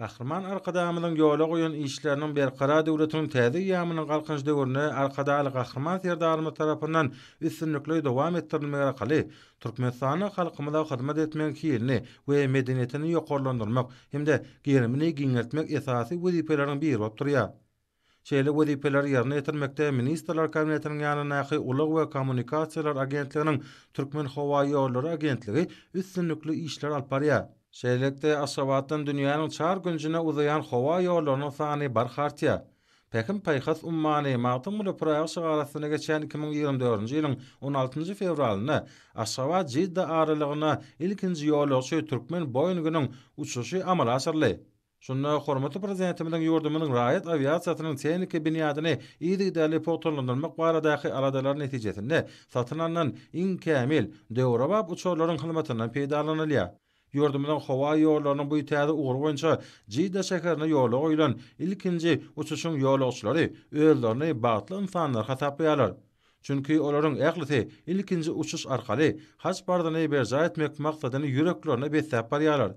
Gahryman Arkadagymyzyň ýola goýan işleriniň Berkarar döwletiň täze eýýamynyň Galkynyş döwründe Arkadagly Gahryman Serdarymyz tarapyndan üstünlikli dowam etdirilmegi arkaly Türkmenistanda halkymyza hyzmat etmegiň hilini we medeniýetini ýokarlandyrmak hem-de gerimini giňeltmek esasy wezipeleriň biri bolup durýar. Şeýle wezipeleri ýerine ýetirmekde Ministrler Kabinetiniň ýanyndaky Ulag we kommunikasiýalar agentliginiň Türkmenhowaýollary agentligi üstünlikli işler alyp barýar. Şeýlelikde, Aşgabatdan dünýäniň çar künjüne uzaýan howa ýollarynyň sany barha artýar. Pähim-paýhas ummany Magtymguly Pyragy şygary astynda geçen iki müň ýigrimi dördünji ýylyň on altynjy fewralynda Aşgabat-Jidda aralygyna ilkinji ýolagçy türkmen Boeing-iniň uçuşy amala aşyryldy. Şunda hormatly Prezidentimiziň ýurdumyzyň raýat awiasiýasynyň tehniki binýadyny yzygiderli pugtalandyrmak baradaky aladalary netijesinde satyn alnan iň kämil, döwrebap uçarlaryň hyzmatyndan peýdalanylýar. Ýurdumyzyň howa ýollarynyň bu täze ugry boýunça Jidda şäherine ýola goýlan ilkinji uçuşyň ýolagçylary özlerini bagtly ynsanlar hasaplaýarlar. Çünki olaryň ählisi ilkinji uçuş arkaly Haj parzyny berjaý etmek maksadyny ýüreklerine besläp barýarlar.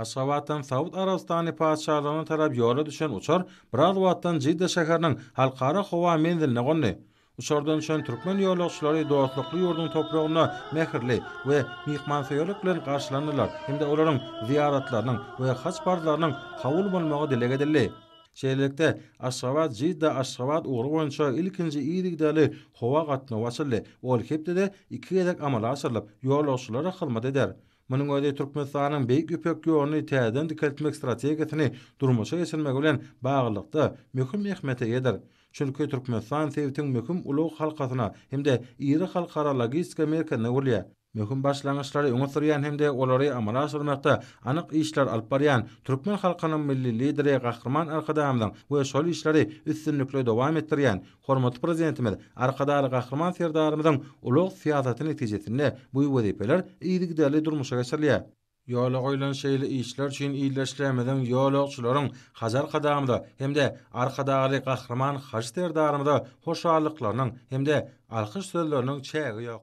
Aşgabatdan Saud Arabystany Patyşalygyna tarap ýola düşen uçar biraz wagtdan Jidda şäheriniň Halkara howa menziline gondy. Uçardan düşen türkmen ýolagçylary dostlukly ýurduň topragynda mähirli we myhmansöýerlik bilen garşylandylar hem-de olaryň zyýaratlarynyň we haj parzlarynyň kabul bolmagy dileg edildi. Şeýlelikde, Aşgabat-Jidda-Aşgabat ugry boýunça ilkinji yzygiderli howa gatnawy açyldy, ol hepdede iki gezek amala aşyrylyp, ýolagçylara hyzmat eder. Munuň özi Türkmenistanyň Beýik Ýüpek ýoluny täzeden dikeltmek strategiýasyny durmuşa geçirmegi bilen baglylykda, möhüm ähmiýete eýedir. Çünki Türkmenistan sebitiň möhüm ulag halkasyna hem-de iri halkara logistika merkezine öwrülýär. Möhüm başlangyçlary öňe sürýän hem-de olary amala aşyrmakda anyk işler alyp barýan türkmen halkynyň Milli Lideri Gahryman Arkadagymyzyň we şol işleri üstünlikli dowam etdirýän Hormatly Prezidentimiz Arkadagly Gahryman Serdarymyzyň ulag syýasaty netijesinde bu wezipeler yzygiderli durmuşa geçirilýär. Ýola goýlan şeýle işler üçin ildeşlerimiziň, ýolagçylaryň Hajy Arkadagymyza hem-de Arkadagly Gahryman Hajy Serdarymyza hoşallyklarynyň hem-de alkyş sözleriniň çägi ýok.